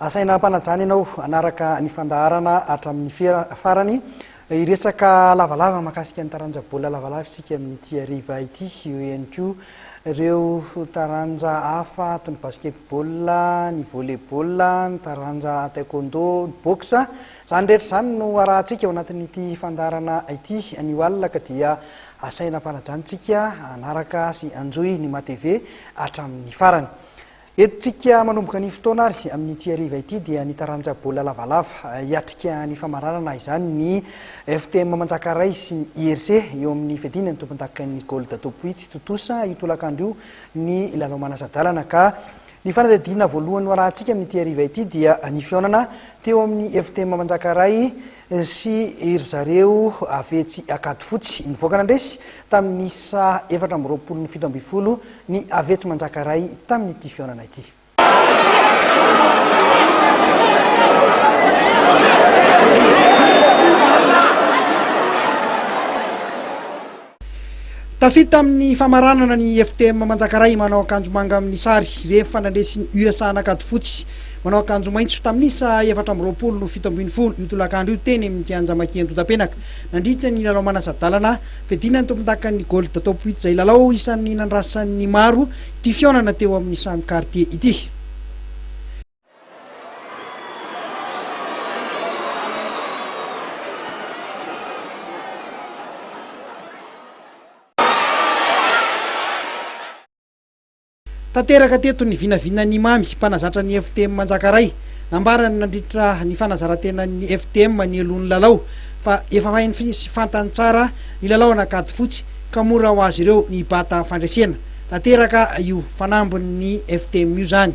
Asaina hampanajana ianao hanaraka ny fandaharana hatramin'ny farany. Hiresaka lavalava mahakasika ny taranja baolina lavalava isika amin'ity hariva ity. Eo ihany koa ireo taranja hafa toy ny basketball, ny volleyball, ny taranja taekwondo, ny boxe. Izany rehetra izany no harahantsika ao anatin'ity fandaharana ity anio alina ka dia asaina hampanajana isika hanaraka sy hanjohy ny matv hatramin'ny farany. Eto tsika manomboka ny fotoana ary amin'ity hariva ity dia ny taranja baolina lavalava hiatrika ny famaranana izany ny FTM Manjakaray sy ny IRC eo amin'ny fiadiana ny tompondakan'ny Gold Topoit tontosa io tolakandro io ny lalao manasa-dalana ka ny fanadihadiana voalohany noarahantsika amin'ity hariva ity dia ny fihaonana teo amin'ny FTM Manjakaray sy ry zareo avy etsy Ankadifotsy. Nivoaka nandresy tamin'ny isa efatra amby roapolo ny fito ambin'ny folo ny avy etsy Manjakaray tamin'ity fihaonana ity. Tafita amin'ny famaranana ny FTM Manjakaray manao akanjo manga amin'ny sary rehefa nandresy ny USA an'Ankady fotsy manao akanjo maitso tamin'ny isa efatra amby roapolo no fito ambin'ny folo io tolakandro io teny amin'ny kianja Makia Andotapenaka nandritra ny lalao manasa-dalana fedina ny tompondakan'ny Gold Top Wheat izay lalao isan'ny nandrasan'ny maro ity fihaonana teo amin'ny samy quartier ity. Tanteraka teto ny vinavinan'i Mamy, mpanazatra ny FTM Manjakaray. Nambarany nandritra ny fanazaran-tenan'ny FTM nialoha ny lalao fa efa hainy sy fantany tsara ny lalao an'Ankady Fotsy ka mora ho azy ireo ny bata fandresena. Tanteraka io fanambin'ny FTM io izany.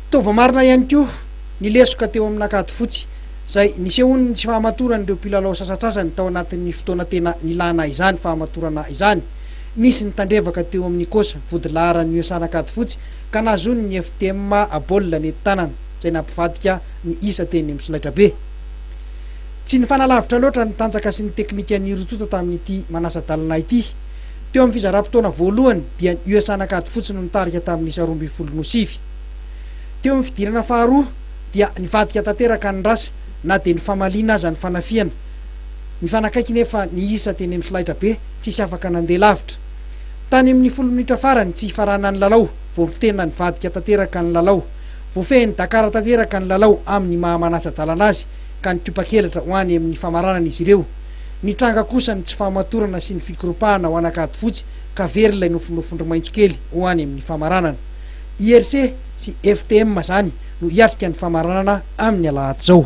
Toa voamarina ihany koa ny lesoka teo amina kady fotsy, izay nisehoan'ny tsy fahamatoran'ireo mpilalao sasantsasany tao anatin'ny fotoana tena nilana izany fahamatorana izany. Nisy ny tandrevaka teo amin'ny coach vodilaharan'ny USA Ankady fotsy ka nahazoan'ny FTM baolina nety tanana izay nampivadika ny isa teny amin'ny solaitrabe. Tsy nifanalavitra loatra ny tanjaka sy ny teknikan'ny roa tonta tamin'ity manasa-dalana ity. Teo amin'ny fizaram-potoana voalohany dia ny USA Ankady fotsy no nitarika tamin'ny isa roa ambin'ny folo no sivy. Teo amin'ny fidirana faharoa dia nivadika tanteraka ny rasa na dia nifamaliana aza ny fanafihana. Nifanakaiky nefa ny isa teny amin'ny solaitrabe, tsisy afaka nandeha lavitra. Tany amin'ny folo minitra farany tsy hifaranan'ny lalao vao vy tena nivadika tanteraka ny lalao. Voafehin'i Dakar tanteraka ny lalao amin'ny maha manasa-dalana azy ka nikopakelatra ho any amin'ny famaranana izy ireo. Nitranga kosa ny tsy fahamatorana sy ny fikoropahana ho an'Ankadifotsy ka very ilay nofinofin-dry maitso kely ho any amin'ny famaranana. IRC sy FTM zany no hiatrika ny famaranana amin'ny alahady zao.